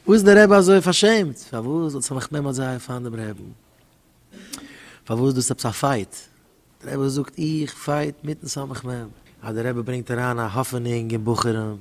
וואס איז דער רבי אזוי פארשעמט? פארוואס זאל זיך מיך נעמען אזוי פיין דעם רעבן? פארוואס דאס איז עפעס א פייט? דער רבי זאגט איך פייט מיטן סמך מם. אז דער רבי ברענגט אריין א האפענונג אין בחורים,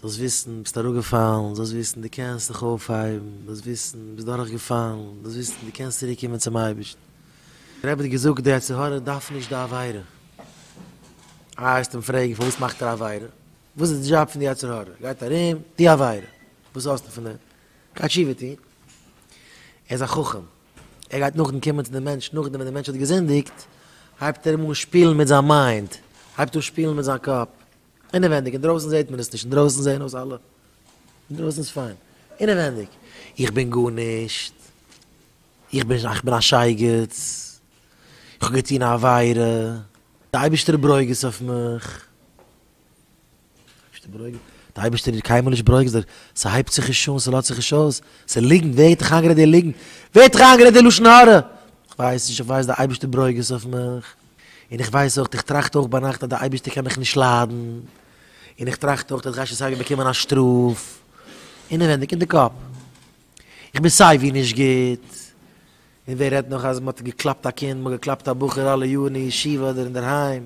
זאלסט וויסן ביסט אראפגעפאלן, זאלסט וויסן דו קענסט זיך אויפהייבן, זאלסט וויסן ביסט דורכגעפאלן, זאלסט וויסן דו קענסט צוריק קומען צום אייבערשטן. דער רבי האט געזאגט די יצר הרע דארף נישט די עבירה. אייער וועסט אים פרעגן פארוואס מאכט ער עבירה? וואס איז די דזשאב פון די יצר הרע? גייט ארום, די עבירה, וואס האסטו פון אים? גייט תשובה טון. ער איז א חכם, ער גייט נאכדעם קומען צו די מענטש, נאכדעם ווען די מענטש האט געזינדיגט, הייבט ער אים אן שפילן מיט זיין מיינד, הייבט אן שפילן מיט זיין קאפ, אינעווענדיג, אינדרויסן זעט מען עס נישט, אינדרויסן זעען אויס אלע, אינדרויסן איז פיין, אינעווענדיג, איך בין גארנישט, איך בין איך בין א שייגעץ, איך האב געטון א עבירה, די אייבערשטער ברוגז אויף מיך. דער אייבערשטער איז קיינמאל נישט ברוגז, ס'הייבט זיך נישט אן, ס'לאזט זיך נישט אויס, ס'איז ליגנט, ווער האט דיך איינגערעדט די ליגנט? ווער האט דיך איינגערעדט די לשון הרע? איך ווייס נישט, איך ווייס דער אייבערשטער ברוגז אויף מיך, און איך ווייס אויך, איך טראכט אויך ביינאכט אז דער אייבערשטער קען מיך נישט ליידן, און איך טראכט אויך אז כ'גיי שוין סייווי באקומען א שטראף, אינעווענדיג אין די קאפ, איך בין סייווי נישט גוט, און ווער רעדט נאך אז מ'האט געקלאפט א קינד, מ'האט געקלאפט א בחור אלע יארן אין ישיבה אדער אינדערהיים.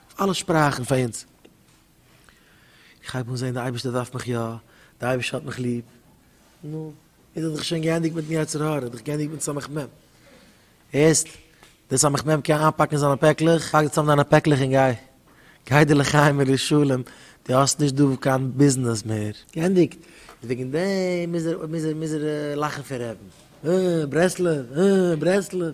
אלע שפראכן פאר אונז. איך הייב אן זען די אייבערשטער דארף מיך יא, די אייבערשטער האט מיך ליב. נו, איז ער דאך שוין געענדיגט מיטן יצר הרע, איז דאך געענדיגט מיטן סמך מם. הערסט? די סמך מם קען איינפאקן אין זיינע פעקלעך? פאק צאם דיינע פעקלעך און גיי. גיי דיר לחיים ולשלום, דו האסט נישט דא קיין ביזנעס מער. געענדיגט? איז וועגן דעם מוז ער לאכן פון רעדן. אה, ברסלב, אה, ברסלב.